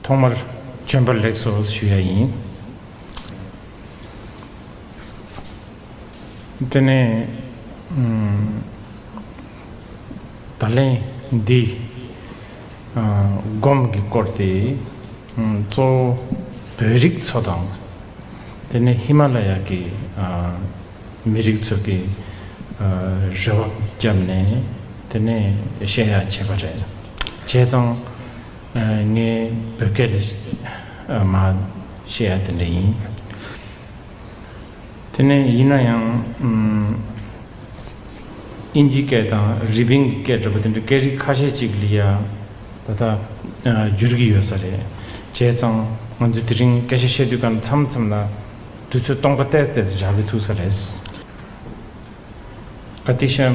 ཐོག་མར་བྱོན་པར་ལེགས་སོ་ཞུ་ཡ་ཡིན། དེ་ནས་ད་ལན་འདི་སྒོམ་གྱི་སྐོར་དེ་གཙོ་བོ་བོད་རིགས་ཚོ་དང། དེ་ནས་ཧི་མ་ལ་ཡ་གི་མི་རིགས་ཚོ་གི་རེ་བ་བརྒྱབ་ནས་དེ་ནས་བཤད་ཡ་བྱས་པ་རེད། བྱས་ཙང། ངའི་བོད་སྐད་རེད། མ་ཤེས་ཡ་དེ་འདྲ་ཡིན། དེ་ནས་ཡིན་ན་ཡང། ཨིན་ཇིའི་སྐད་དང་རི་པིན་གྱི་སྐད་འདྲ་པོ་དེ་འདྲ་སྐད་རིགས་ཁ་ཤས་ཅིག་ལ་ཡ། ད་ལྟ་འགྱུར་གྱི་ཡོད་ས་རེད། བྱས་ཙང་ང་ཚོས་དེ་རིང་སྐད་ཆ་བཤད་དུས་ཀ་མཚམས་མཚམས་ལ། དུས་ཚོད་སྟོང་ཀ་བལྟས་བལྟས་སུ་འཇགས་གི་ཐུག་ས་རེད། ཨ་ཏི་ཤ།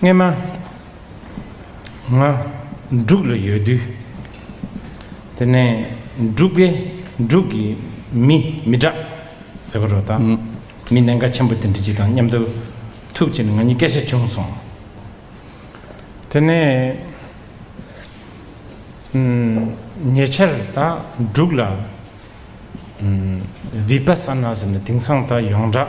སྔས་མ། ང། འབྲུག་ལ་ཡོད་དུས། དེ་ནས་འབྲུག་པས་འབྲུག་གི་མི་མི་དྲག་ཟེར་བ་རོ་དང། མི་ནན་ཁ་ཆེན་པོ་དེ་འདྲི་གཅིག་དང་མཉམ་དུ་ཐུག་ཕྱིར་ང་གཉིས་སྐད་ཆ་བྱུང་སོང། དེ་ནས། ཉེ་ཆར་ད་འབྲུག་ལ། བིཔ་ས་ན་ཟེར་ནས་དེང་སང་ད་ཡོངས་གྲགས།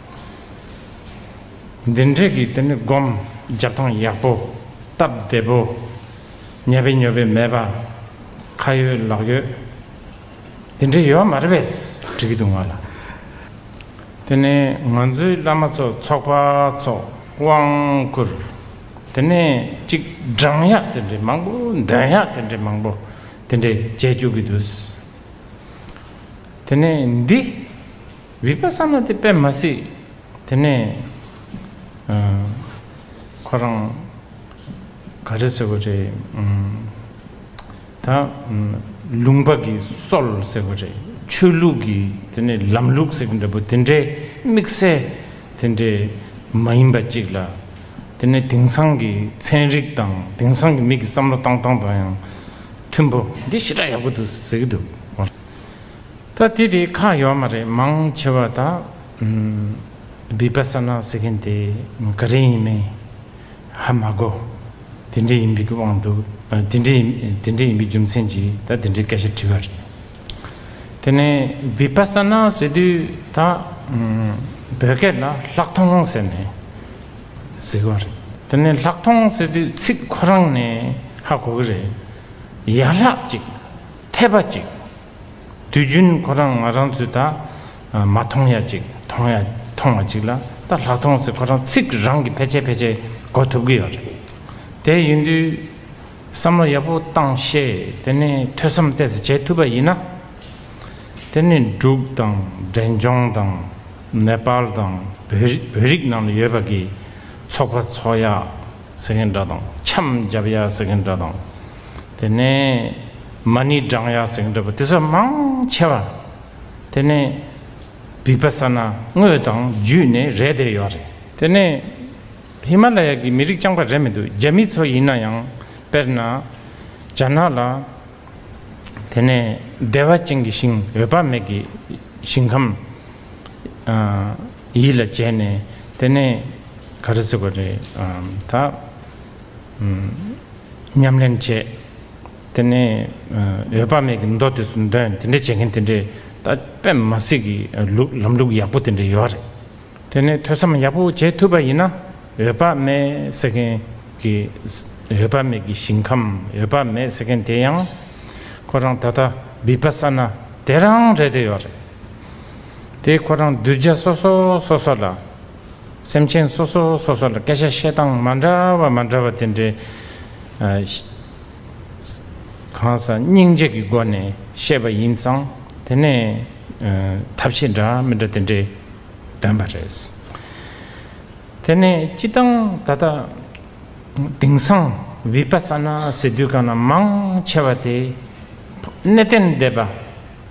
འདི་འདྲས་ཀྱི་དེ་ནི་སྒོམ་རྒྱབ་ཐང་ཡག་པོ། སྟབས་བདེ་པོ། ཉལ་བའི་ཉོལ་བའི་མེད་པ། ཁ་ཡོད་ལག་ཡོད། དེ་འདྲས་ཡོད་མ་རེད་བས་འགྲིག་གི་འདུག་ང་ལ། དེ་ནི་ང་ཚོའི་བླ་མ་ཚོ་ཚོགས་པ་ཚོགས་དབང་བསྐུར། དེ་ནི་གཅིག་སྦྲང་ཡག་དེ་འདྲས་མང་པོ་འདོན་ཡག་དེ་འདྲས་མང་པོ་དེ་འདྲས་བྱས་བཅུག་གི་འདུག། དེ་ནི་འདི། བིར་པ་བསམ་ན་དེ་དཔེ་མ་སྲིད། དེ་ནས། ཁོ་རང། ག་རེ་ཟེར་བ་རེད། ད། ལུང་པ་གི་སྲོལ་ཟེར་བ་རེད། ཆོས་ལུགས་ཀྱི་དེ་ནས་ལམ་ལུགས་ཟེར་གྱི་འདྲ་པོ་དེ་འདྲའི་དམིགས་བསལ་དེ་འདྲའི་མ་ཡིན་པ་གཅིག་ལ། དེ་ནས་དེང་སང་གི་ཚན་རིག་དང་དེང་སང་གི་མི་གི་བསམ་བློ་བཏང་སྟངས་དང་ཡང་མཐུན་པོ་འདི་ཞེ་དྲག་ཡག་པོ་འདུག་ཟེར་གྱི་འདུག། ད་དེ་དེ་ཁ་ཡོག་མ་རེད་མང་ཆེ་བ་ད་བི་པ་ས་ནཱ་ཟེར་མཁན་དེ་ག་རེ་ཡིན་མིན་ཧ་མ་གོ་དེ་འདྲས་ཡིན་པའི་གི་དབང་འདུག་དེ་འདྲས་དེ་འདྲས་ཡིན་པའི་རྒྱུ་མཚན་གྱིས་ད་དེ་འདྲས་སྐད་ཆ་དྲི་བ་རེད་དེ་ནས་བི་པ་ས་ནཱ་ཟེར་དུས་ད་བོད་སྐད་ལ་ལྷག་མཐོང་ཟེར་ནས་ཟེར་གི་བ་རེད་དེ་ནས་ལྷག་མཐོང་ཟེར་དུས་ཚིག་ཁོ་རང་ནས་ཧ་གོ་གི་རེད་ཡག་ལྷག་ཅིག་འཐད་པ་ཅིག་དུས་རྒྱུན་ཁོ་རང་ང་རང་ཚོའི་ད་མ་མཐོང་ཡ་ཅིག་མཐོང་ཡ་མཐོང་བ་ཅིག་ལ་ད་ལྷག་མཐོང་ཟེར་ཁོ་རང་ཚིག་རང་གིས་ཕལ་ཆེར་ཕལ་ཆེར་གོ་ཐུབ་ཀྱི་ཡོད་རེད། དེ་ཡིན་དུས་བསམ་བློ་ཡག་པོ་བཏང་ཤེས་དེ་ནས་ཐོས་བསམ་གཏད་ཟེར་བྱེད་ཐུབ་པ་ཡིན་ན། དེ་ནས་འབྲུག་དང་འབྲས་ལྗོངས་དང་ནེ་པཱལ་དང་བོད་རིགས་ནང་ལ་ཡོད་པ་གིས་ཚོགས་པ་འཚོགས་ཡ་ཟེར་མཁན་འདྲ་དང་འཆམ་རྒྱབ་ཡ་ཟེར་མཁན་འདྲ་དང། དེ་ནས་མ་ནི་སྦྲང་ཡག་ཟེགས་འདྲ་བ་དེ་ཚོ་མང་ཆེ་བ་དེ་ནས་བིག་པ་ས་ན་དངོས་དང་བརྒྱུད་ནས་རེད་བསྡད་ཡོད་རེད། དེ་ནས་ཧི་མ་ལ་ཡ་གི་མི་རིགས་རྐྱང་པ་རེད་མི་འདུག་རྒྱ་མི་ཚོ་ཡིན་ན་ཡང་དཔེར་ན་རྒྱ་ནག་ལ་དེ་ནས་བདེ་བ་ཅན་གྱི་ཞིང་འོད་དཔག་མེད་ཀྱི་ཞིང་ཁམས་ཡིད་ལ་བྱས་ནས་དེ་ནས་ག་རེ་ཟེར་བ་རེད་ད། ཉམས་ལེན་བྱས། དེ་ནས་འོད་དཔག་མེད་ཀྱི་མདོ་དེ་ཚོ་འདོན་དེ་འདྲ་བྱེད་མཁན་དེ་འདྲའི་ད་པད་མ་སྲིད་ཀྱི་ལུགས་ལམ་ལུགས་ཡག་པོ་དེ་འདྲ་ཡོད་རེད། དེ་ནས་ཐོས་བསམ་ཡག་པོ་བྱེད་ཐུབ་པ་ཡིན་ན་འོད་དཔག་མེད་ཟེར་མཁན་གྱི་འོད་དཔག་མེད་ཀྱི་ཞིང་ཁམས་འོད་དཔག་མེད་ཟེར་མཁན་དེ་ཡང་ཁོ་རང་ད་ལྟ་བི་པ་སཱ་ན་དེ་རང་རེད་དེ་ཡོད་རེད། དེ་ཁོ་རང་གདུལ་བྱ་སོ་སོ་སོ་སོ་ལ་སེམས་ཅན་སོ་སོ་སོ་སོ་ལ་སྐད་ཆ་བཤད་སྟངས་མ་འདྲ་བ་མ་འདྲ་བ་དེ་འདྲའི་གང་ཟག་སྙིང་རྗེ་གི་སྒོ་ནས་བཤད་པ་ཡིན་ཙང་དེ་ནས་ཐབས་ཤེས་འདྲ་མི་འདྲ་དེ་འདྲའི་འདོན་པ་རེད། དེ་ནས་སྤྱི་བཏང་ད་ལྟ་དེང་སང་བི་པ་ས་ན་ཟེར་དུས་གང་ན་མང་ཆེ་བ་དེ་གནས་བརྟན་སྡེ་པ།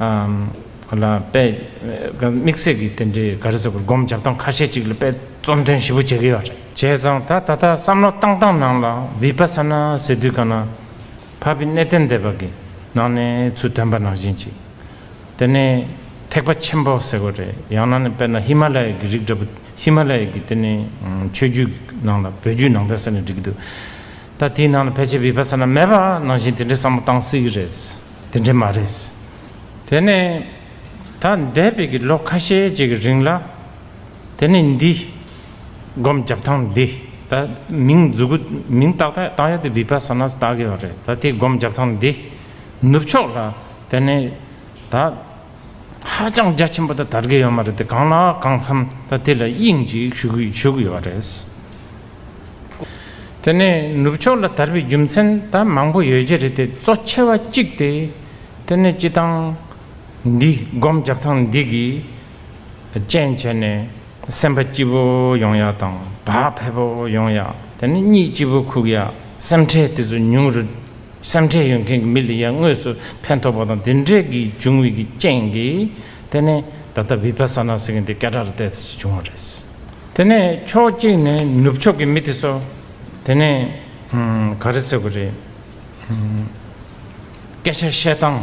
ལ་དཔེ་དམིགས་བསལ་གྱི་དེ་འདྲའི་ག་རེ་ཟེར་དགོས་སྒོམ་བྱ་སྟངས་ཁ་ཤས་ཅིག་ལ་དཔེ་རྩོམ་དོན་ཞིབ་པོ་བྱེད་ཀྱི་ཡོད་རེད། བྱས་ཙང་ད་ད་ལྟ་བསམ་བློ་བཏང་སྟངས་ནང་ལ་བི་པ་ས་ན་ཟེར་དུས་ག་ན་བྷ་བི་གནས་བརྟན་སྡེ་བ་གི་ནང་ནས་ཚུལ་སྟོན་པ་ནང་བཞིན་ཅིག་དེ་ནི་ཐེག་པ་ཆེན་པོ་ཟེར་དགོས་རེད་ཡང་ན་ནི་དཔེར་ན་ཧི་མ་ལ་ཡའི་གི་རིགས་འདྲ་པོ་ཧི་མ་ལ་ཡའི་གི་དེ་ནི་ཆོས་རྒྱུད་ནང་ལ་བོད་རྒྱུད་ནང་བསྟན་ཟེར་ནས་བསྒྲིགས་གི་འདུག་ད་དེའི་ནང་ལ་ཕལ་ཆེར་བི་པ་ས་ན་མེད་པ་ནང་བཞིན་དེ་འདྲའི་བསམ་བློ་བཏང་སྲིད་གི་རེད། དེ་འདྲ་མ་རེད། དེ་ནི་ད་འདས་པའི་གི་ལོ་ཁ་ཤས་ཀྱི་གི་རིང་ལ། དེ་ནི་འདི། སྒོམ་རྒྱབ་ཐང་འདི་ད་མིང་འཛུགས་གུ་མིང་ཏག་ཏག་ཏང་ཡོ་དི་བི་པ་སཱ་ནཱ་སི་ཏཱ་གི་བ་རེད་ད་དེ་སྒོམ་རྒྱབ་ཐང་འདི། ནུབ་ཕྱོགས་ལ་དེ་ནི་ད། ཧ་ཅང་རྒྱ་ཆེན་པོ་དང་དར་རྒྱས་ཡོད་མ་རེད་དེ་གང་ལ་གང་འཚམ་ད་དེ་ལ་དབྱིངས་གཅིག་ཞུ་གི་ཞུ་གི་ཡོད་པ་རེད། དེ་ནས་ནུབ་ཕྱོགས་ལ་དར་བའི་རྒྱུ་མཚན་ད་མང་པོ་ཡོད་རྒྱུ་རེད་དེ་གཙོ་ཆེ་བ་གཅིག་དེ་དེ་ནས་སྤྱི་སྟངས་འདི་སྒོམ་རྒྱབ་ཐང་འདི་གིས་རྐྱེན་བྱས་ནས། སེམས་དཔའ་སྐྱིད་པོ་ཡོང་ཡག་དང་བག་ཕེབས་པོ་ཡོང་ཡག་དེ་ནི་གཉིད་སྐྱིད་པོ་ཁུག་ཡག་སེམས་ཁྲལ་དེ་ཚོ་ཉུང་རུ། སེམས་ཁྲལ་ཡོད་མཁན་གྱི་མི་ལ་ཡར་དངོས་སུ་ཕན་ཐོགས་པ་དང་དེ་འབྲེལ་གྱི་འབྱུང་བའི་གི་རྐྱེན་གྱིས་དེ་ནི་ད་ལྟ Vipassana ཟེར་མཁན་དེ་སྐད་གྲགས་རེ་བལྟས་ཚེ་ཅི་བྱུང་བ་རེད། དེ་ནས་ཕྱོགས་གཅིག་ནས་ནུབ་ཕྱོགས་ཀྱི་མི་དེ་ཚོ་དེ་ནས་ག་རེ་ཟེར་དགོས་རེད། སྐད་ཆ་བཤད་སྟངས་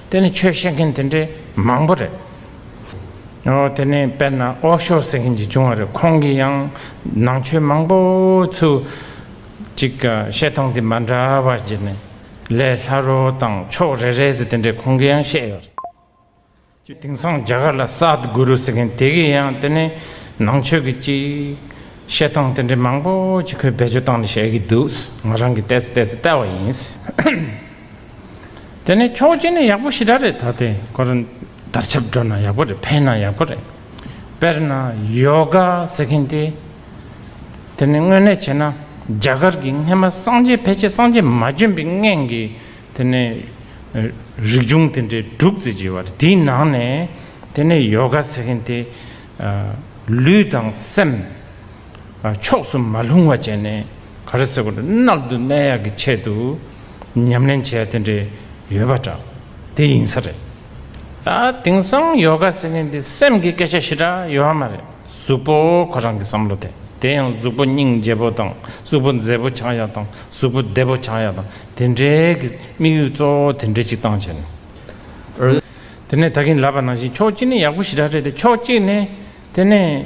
དེ་ནི་ཆོས་བཤད་མཁན་དེ་འདྲའི་མང་པོ་རེད། ཨོ་དེ་ནི་དཔལ་ནཱ་ཨོ་ཤོ་ཟེར་མཁན་གྱིས་བྱུང་བ་རེད་ཁོང་གིས་ཡང་ནང་ཆོས་མང་པོ་ཚུལ་གཅིག་བཤད་སྟངས་དེ་མ་འདྲ་བ་བརྒྱུད་ནས་ལས་སླ་རོ་དང་ཕྱོགས་རེ་རེ་ཟེར་དེ་འདྲའི་ཁོང་གིས་ཡང་བཤད་ཡོད་རེད། དེང་སང་རྒྱ་གར་ལ་སཱད་གུ་རུ་ཟེར་མཁན་དེ་གིས་ཡང་དེ་ནི་ནང་ཆོས་ཀྱི་གཅིག་བཤད་སྟངས་དེ་འདྲའི་མང་པོ་གཅིག་ཁོས་བེད་སྤྱོད་སྟངས་ནི་བཤད་ཀྱི་འདུག་ང་རང་གིས་བལྟས་ཚེ་བལྟས་ཚེ་བལྟ་བ་ཡིན། དེ་ནས་ཁྱོ་གཅིག་ནི་ཡག་པོ་ཞི་དྲག་རེད་ད་དེ་ཁོ་རང་དར་ཆབ་འགྲོ་ན་ཡག་པོ་རེད་ཕན་ན་ཡག་པོ་རེད་དཔེར་ན་ཡོ་ག་ཟེར་མཁན་དེ་དེ་ནི་དངོས་གནས་བྱས་ན་རྒྱ་གར་གྱི་སྔན་མ་སངས་རྒྱས་ཕལ་ཆེར་སངས་རྒྱས་མ་བྱོན་པའི་སྔན་གྱི་དེ་ནི་རིག་འབྱུང་དེ་འདྲའི་དྲུག་བརྩི་བྱས་པ་རེད་དེའི་ནང་ནས་དེ་ནི་ཡོ་ག་ཟེར་མཁན་དེ་ལུས་དང་སེམས། ཕྱོགས་སུ་མ་ལྷུང་བ་བྱས་ནས་ག་རེ་ཟེར་ནག་ཏུ་གནས་ཡག་གི་ཆེད་དུ་ཉམས་ལེན་བྱས་དེ་འདྲས་ཡོད་པ་འདྲ་དེ་ཡིན་ས་རེད། དེང་སང་ཡོ་ག་ཟེར་མཁན་དེ་སེམས་ཀྱི་སྐད་ཆ་ཞེ་དྲག་ཡོད་ཨ་མ་རེད་གཟུགས་པོ་ཁོ་རང་གི་བསམ་བློ་དེ་དེ་ཡང་གཟུགས་པོ་སྙིང་རྗེ་བོ་དང་གཟུགས་པོ་མཛེས་པོ་ཆགས་ཡག་དང་གཟུགས་པོ་བདེ་བོ་ཆགས་ཡག་དང་དེ་འདྲས་ཀྱི་དམིགས་ཡུལ་གཙོ་བོ་དེ་འདྲས་ཅིག་བཏང་བྱས་ནས། དེ་ནས་ད་གིན་ལབ་པ་ནང་བཞིན་ཕྱོགས་གཅིག་ནས་ཡག་པོ་ཞེ་དྲག་རེད་དེ་ཕྱོགས་གཅིག་ནས་དེ་ནས་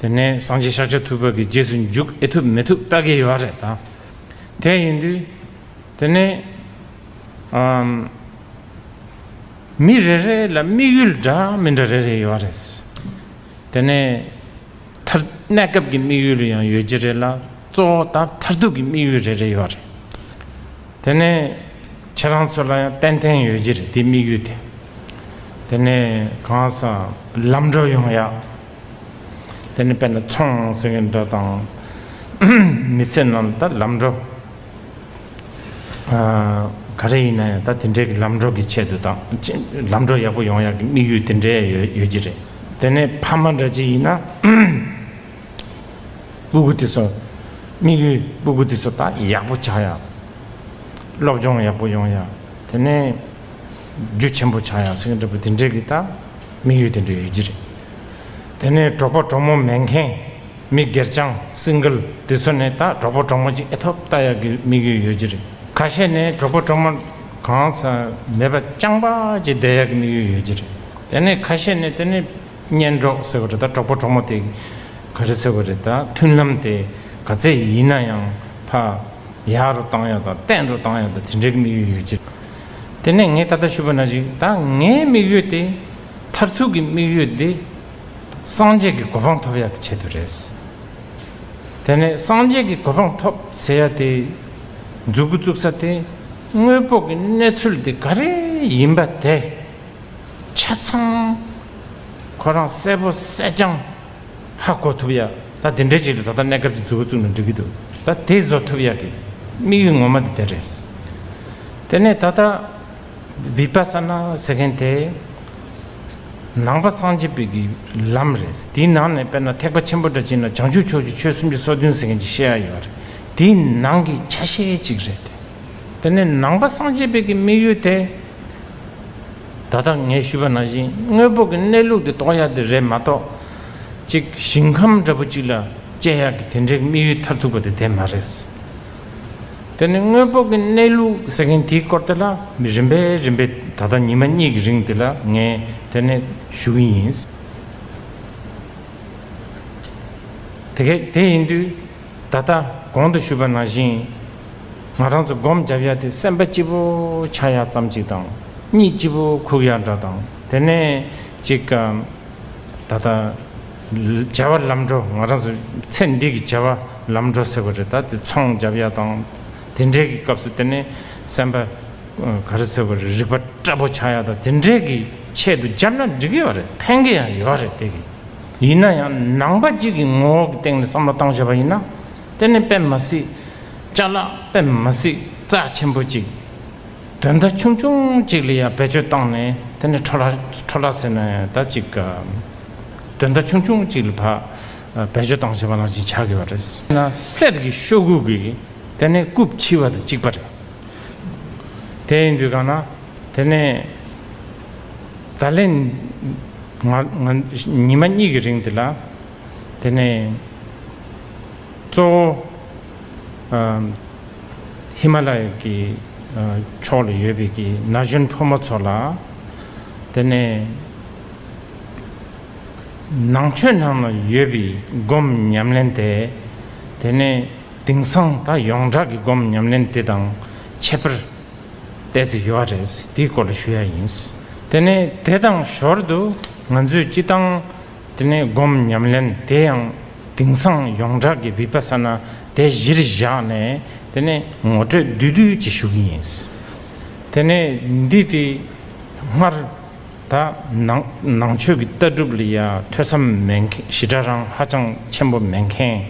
དེ་ནས་སངས་རྒྱས་ཤཱཀྱ་ཐུབ་པ་གི་རྗེས་སུ་འཇུག་ཨེ་ཐུབ་མི་ཐུབ་ལྟ་གི་ཡོད་རེད་ད། དེ་ཡིན་དུས། དེ་ནས། མི་རེ་རེ་ལ་དམིགས་ཡུལ་འདྲ་མི་འདྲ་རེ་རེ་ཡོད་རེད། དེ་ནས། གནས་སྐབས་ཀྱི་དམིགས་ཡུལ་ཡང་ཡོད་ཀྱི་རེད་ལ་གཙོ་བོ་ད་མཐར་ཐུག་གི་དམིགས་ཡུལ་རེ་རེ་ཡོད་རེད། དེ་ནས། ཁྱེད་རང་ཚོ་ལ་ཡང་ཏན་ཏན་ཡོད་རྒྱུ་རེད་དེའི་དམིགས་ཡུལ་དེ། དེ་ནས་གང་སང་ལམ་འགྲོ་ཡོང་ཡག། དེ་ནས་དཔེར་ན་ཚོང་ཟེར་གི་འདྲ་དང། མི་ཚེ་རྣམས་ད་ལམ་འགྲོ། ག་རེ་ཡིན་ན་ཡང་ད་དེ་འདྲའི་གི་ལམ་འགྲོ་གི་ཆེད་དུ་དང། ལམ་འགྲོ་ཡག་པོ་ཡོང་ཡག་གི་དམིགས་ཡུལ་དེ་འདྲའི་ཡོད་རྒྱུ་རེད། དེ་ནས་ཕ་མ་འདྲ་གཅིག་ཡིན་ན། སྤུ་གུ་དེ་ཚོ་དམིགས་ཡུལ་སྤུ་གུ་དེ་ཚོ་ད་ཡག་པོ་ཆགས་ཡག། སློབ་སྦྱོང་ཡག་པོ་ཡོང་ཡ། དེ་ནས། རྒྱུ་ཆེན་པོ་ཆགས་ཡ་སེང་གེ་འདྲ་བོ་དེ་འདྲས་ཀྱི་ད། དམིགས་ཡུལ་དེ་འདྲ་ཡོད་ཀྱི་རེད། དེ་ནས་གྲོགས་པོ་གྲོགས་མོ་མེད་མཁན། མི་སྒེར་རྐྱང Single དེ་ཚོ་ནས་ད་གྲོགས་པོ་གྲོགས་མོ་ཅིག་ཨེ་ཐོབ་ལྟ་ཡ་གི་དམིགས་ཡུལ་ཡོད་ཀྱི་རེད། ཁ་ཤས་ནས་གྲོགས་པོ་གྲོགས་མོ། གང་ས་མེད་པ་རྐྱང་པ་ཅིག་བསྡད་ཡ་གི་དམིགས་ཡུལ་ཡོད་ཀྱི་རེད། དེ་ནས་ཁ་ཤས་ནས་དེ་ནས། གཉེན་གྲོགས་ཟེར་བ་རེད་ད་གྲོགས་པོ་གྲོགས་མོ་དེ། ག་རེ་ཟེར་བ་རེད་ད་མཐུན་ལམ་དེ། ག་ཚད་ཡིན་ན་ཡང་ཕ། ཡག་རུ་བཏང་ཡོད་དང་བརྟན་རུ་བཏང་ཡོད་དང་དེ་འདྲའི་དམིགས་ཡུལ་ཡོད་ཅེས། དེ་ནས་ངས་ད་ལྟ་ཞུས་པ་ན་ཅིག་ད་ངའི་དམིགས་ཡུལ་དེ། མཐར་ཐུག་གི་དམིགས་ཡུལ་འདི། སངས་རྒྱས་ཀྱི་གོ་འཕང་ཐོབ་ཡག་གི་ཆེད་དུ་རེད། དེ་ནས་སངས་རྒྱས་ཀྱི་གོ་འཕང་ཐོབ་ཟེར་ཡག་དེ། འཛུགས་སྐུ་བཙུགས་ས་དེ་དངོས་དཔོག་གི་གནས་ཚུལ་དེ་ག་རེ་ཡིན་པ་དེ། ཆ་ཚང་ཁོ་རང་གསལ་པོ་གསལ་རྐྱང། ཧ་གོ་ཐུབ་ཡ། ད་དེ་འདྲའི་ཅིག་ལ་ད་ལྟ་གནས་སྐབས་ཀྱི་འཛུལ་བ་བཙུགས་ནས་འགྲིག་གི་འདུག་ད་དེ་བཟོ་ཐུབ་ཡ་གི་དམིགས་ཡུལ་ངོ་མ་དེ་དེ་རེད། དེ་ནས་ད་ལྟ Vipassana ཟེར་མཁན་དེ་ནང་པ་སངས་རྒྱས་པའི་ལམ་རེད། དེའི་ནང་ནས་དཔེར་ན་ཐེག་པ་ཆེན་པོ་འདྲ་སྤྱིར་ན་བྱང་ཆུབ་ཕྱོགས་ཀྱི་ཆོས་སུམ་ཅུ་སོ་བདུན་ཟེར་མཁན་གྱི་བཤད་ཡ་ཡོད་པ་རེད། དེ་ནང་གི་ཆ་ཤས་ཅིག་རེད། དེ་ནས་ནང་པ་སངས་རྒྱས་པའི་དམིགས་ཡུལ་དེ། ད་ལྟ་ངས་ཞུས་པ་ནང་བཞིན་དངོས་པོ་གི་གནས་ལུགས་དེ་རྟོགས་ཡ་དེ་རེད་མ་གཏོགས། ཅིག་ཞིང་ཁམས་འདྲ་པོ་ཅིག་ལ་དཔྱད་ཡག་གི་དེ་འདྲའི་དམིགས་ཡུལ་མཐར་ཐུག་པ་དེ་དེ་མ་རེད། དེ་ནི་དངོས་པོ་གི་གནས་ལུགས་ཟེར་མཁན་དེའི་སྐོར་དེ་ལ་མི་རིམ་པས་རིམ་པས་ད་ལྟ་ཉི་མ་གཉིས་ཀྱི་རིང་དེ་ལ་ངས་དེ་ནས་ཞུ་གི་ཡིན། དེ་ཡིན་དུས། ད་ལྟ་གོང་དུ་ཞུས་པ་ནང་བཞིན། ང་རང་ཚོ་སྒོམ་བརྒྱབ་ཡ་དེ་སེམས་པ་སྐྱིད་པོ་ཆགས་ཡ་ཙམ་གཅིག་དང། གཉིད་སྐྱིད་པོ་ཁུག་ཡ་འདྲ་དང་དེ་ནས་གཅིག། ད་ལྟ་བྱ་བ་ལམ་འགྲོ་ང་རང་ཚོ་ཚེ་འདི་གི་བྱ་བ་ལམ་འགྲོ་ཟེར་བ་རེད་ད་དེ་ཚོང་བརྒྱབ་ཡ་དང། དེ་འདྲའི་གི་སྐབས་སུ་དེ་ནས་སེམས་པ་ག་རེ་ཟེར་བ་རེད་རིག་པ་སྐྲ་པོ་ཆགས་ཡ་དང་དེ་འདྲའི་གི་ཆེད་དུ་བརྒྱབ་ན་འགྲིག་གི་ཡོད་རེད་ཕན་གི་ཡང་ཡོད་རེད་དེ་གི། ཡིན་ན་ཡང་ནང་པ་གཅིག་གི་ངོ་བོ་གི་སྟེང་ནས་བསམ་བློ་བཏང་བྱས་པ་ཡིན་ན་དེ་ནི་དཔེ་མ་སྲིད། བཅའ་ལག་དཔེ་མ་སྲིད་རྩ་ཆེན་པོ་གཅིག། དོན་དག་ཆུང་ཆུང་གཅིག་ལ་ཡང་བེད་སྤྱོད་བཏང་ནས་དེ་ནི་ཁྲོ་ལ་ཁྲོ་ལ་ཟེར་ན་ཡང་ད་ཅིག་ག། དོན་དག་ཆུང་ཆུང་གཅིག་ལ་བ་བེད་སྤྱོད་བཏང་བྱས་པ་ལ་ཅིག་ཆགས་དགོས་པ་རེད། དེས་ན་གསེར་གྱི་ཤོག་གུ་གིས་དེ་ནི་རྐུབ་ཕྱིས་པ་དང་གཅིག་པ་རེད། དེ་ཡིན་དུས་གང་ན་དེ་ནི། ད་ལན། ཉི་མ་གཉིས་ཀྱི་རིང་འདི་ལ། དེ་ནས། གཙོ་བོ། ཧི་མ་ལ་ཡ་གྱི། ཕྱོགས་ལ་ཡོད་པའི་ཀྱི་ན་གཞོན་ཕོ་མོ་ཚོ་ལ། དེ་ནས། ནང་ཆོས་ནང་ལ་ཡོད་པའི་སྒོམ་ཉམས་ལེན་དེ། དེ་ནས། དིང་སང་ད་ཡོངས་གྲགས་ཀྱི་སྒོམ་ཉམས་ལེན་དེ་དང་ཁྱད་པར། བལྟས་ཚེ་ཡོད་རེད། དེའི་སྐོར་ལ་ཞུ་ཡ་ཡིན། དེ་ནས་དེ་དང་ཞོར་དུ་ང་ཚོས་སྤྱི་བཏང། དེ་ནས་སྒོམ་ཉམས་ལེན་དེ་ཡང་དེང་སང་ཡོངས་གྲགས་ཀྱི་བི་པ་ས་ན་དེ་གཞིར་བཞག་ནས་དེ་ནས་ངོ་སྤྲོད་བསྡུས་བསྡུས་ཀྱིས་ཞུ་གི་ཡིན། དེ་ནས་འདི་དེ་སྔར་ད་ནང་ཆོས་ཀྱི་ལྟ་གྲུབ་ལ་ཡ་ཐོས་བསམ་མེད་མཁན་ཞི་དྲག་རང་ཧ་ཅང་ཆེན་པོ་མེད་མཁན།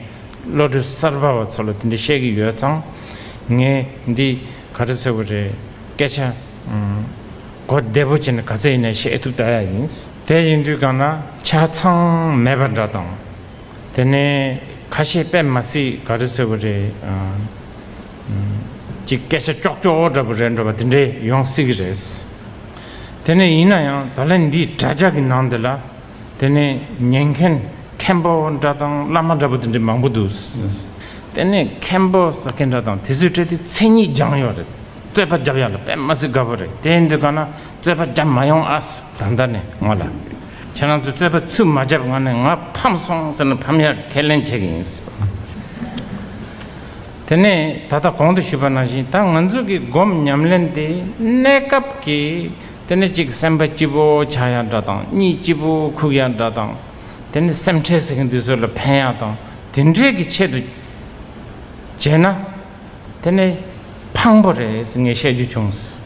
བློ་གྲོས་གསར་པ་བ་ཚོ་ལ་དེ་འདྲ་བཤད་གི་ཡོད་ཙང། ངས་འདི་ག་རེ་ཟེར་བ་རེད། སྐད་ཆ། གོ་བདེ་པོ་བྱས་ནས་ག་ཚད་ཡིན་ན་བཤད་ཐུབ་ད་ཡག་ཡིན། དེ་ཡིན་དུས་གང་ན་ཆ་ཚང་མེད་པ་འདྲ་དང། དེ་ནས་ཁ་ཤས་དཔེ་མ་སྲིད་ག་རེ་ཟེར་བ་རེད། ཅིག་སྐད་ཆ་ཀྱོག་ཀྱོག་འདྲ་པོ་རེད་འདྲ་བ་དེ་འདྲས་ཡོང་སྲིད་གི་རེད། དེ་ནས་ཡིན་ན་ཡང་ད་ལན་འདིའི་དྲ་རྒྱ་གི་ནང་དེ་ལ། དེ་ནས་ཉན་མཁན་མཁན་པོ་འདྲ་དང་བླ་མ་འདྲ་པོ་དེ་འདྲ་མང་པོ་འདུག། དེ་ནས་མཁན་པོ་ཟེར་མཁན་འདྲ་དང་དེ་ཚོའི་གྲས་དེ་མཚན་ཉིད་སྦྱང་ཡོད་རེད། རྩོད་པ་བརྒྱབ་ཡག་ལ་དཔེ་མ་ཟིག་དགའ་པོ་རེད་དེ་འདི་ག་ན་རྩོད་པ་བརྒྱབ་མ་ཡོང་ཨ། ད་ལྟ་ནས་ང་ལ། ཁྱེད་རང་ཚོས་རྩོད་པ་ཚུད་མ་བརྒྱབ་ང་ནས་ང་ཕམ་སོང་ཟེར་ན་ཕམ་ཡག་ཁས་ལེན་བྱེད་ཀྱི་ཡིན། དེ་ནས་ད་ལྟ་གོང་དུ་ཞུས་པ་ནང་བཞིན་ད་ང་ཚོ་གི་སྒོམ་ཉམས་ལེན་དེ་གནས་སྐབས་ཀྱི་དེ་ནི་གཅིག་སེམས་པ་སྐྱིད་པོ་ཆགས་ཡག་འདྲ་དང་གཉིས་སྐྱིད་པོ་ཁུག་ཡག་འདྲ་དང། དེ་ནི་སེམས་ཁྲལ་ཟེར་མཁན་དེ་ཚོ་ལ་ཕན་ཡག་དང་དེ་འདྲའི་གི་ཆེད་དུ་བྱས་ན། དེ་ནི་ཕངས་པོ་རེད་ངས་བཤད་རྒྱུ་བྱུང།